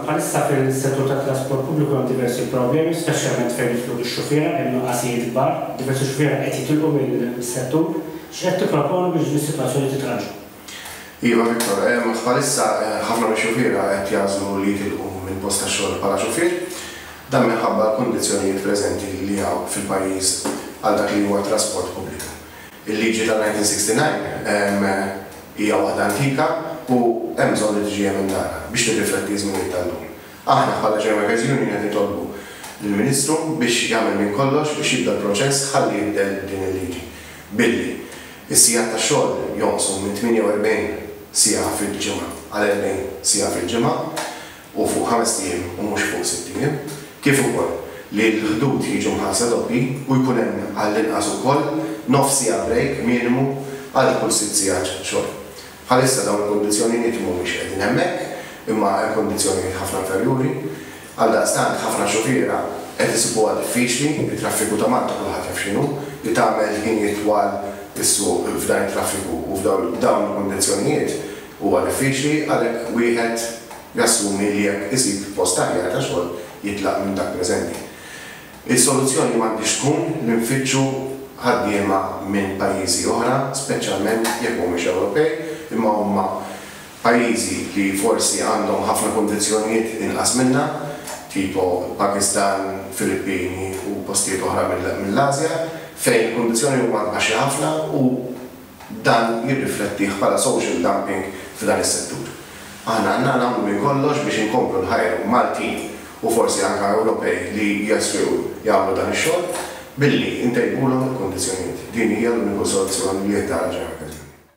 Bħalissa fis-settur tat-trasport pubbliku hemm diversi problemi, speċjalment fejn jifqdu x-xufiera, hemm nuqqasijiet kbar, diversi xufiera qed jitilqu mis-settur. X'qed tipproponu biex din is-sitwazzjoni titranġa? Iva Victor, bħalissa ħafna mix-xufiera qed jagħżlu li jitilqu mill-post tax-xogħol bħala xufier. Dan minħabba l-kundizzjonijiet preżenti li hawn fil-pajjiż għal dak li huwa t-trasport pubbliku. Il-liġi tal-1969 hija waħda antika u hemm bżonn li tiġi emendata biex tirrifletti ż-żminijiet tal-lum. Aħna bħala German Guides Union qed nitolbu lill-Ministru biex jagħmel minn kollox biex jibda l-proċess ħalli jinbdel din il-liġi billi s-sigħat tax-xogħol jonqsu minn 48 siegħa fil-ġimgħa għal 40 siegħa fil-ġimgħa. u fuq ħamest ijiem u mhux fuq sitt ijiem, kif ukoll li l-ħdud jiġu mħallsa doppji u jkun hemm għall-inqas ukoll nofs siegħa brejk minimu għal kull sitt sigħat xogħol. Bħalissa dawn il-kundizzjoniniet mhumiex qegħdin hemmhekk imma hemm kundizzjonijiet ħafna inferjuri. Għaldaqstant ħafna xufiera qed isibuha diffiċli, it-traffiku ta' Malta kulħadd jaf x'inhu, li tagħmel ħinijiet twal is-suq f'dan it-traffiku u f'dawn il-kundizzjonijiet Huwa diffiċli għalhekk wieħed jassumi li jekk isib post aħjar ta' xogħol jitlaq minn dak preżenti. Is-soluzzjoni m'għandhiex tkun li nfittxu ħaddiema minn pajjiżi oħra, speċjalment jekk mhumiex Ewropej imma huma pajjiżi li forsi għandhom ħafna kundizzjonijiet inqas minna, tipo l-Pakistan, Filippini u postijiet oħra mill-Ażja, fejn il-kundizzjonijiet huma baxxi ħafna u, Dan nirriflettih bħala social dumping f'dan is-settur. Aħna għandna nagħmlu minn kollox biex inkomplu nħajru Maltin u forsi anke Ewropej li jeswiew jagħmlu dan ix-xogħol billi ntejbulhom il-kundizzjonijiet. Din hija l-uniku soluzzjoni li jittarranġa l-mekkaniżmu.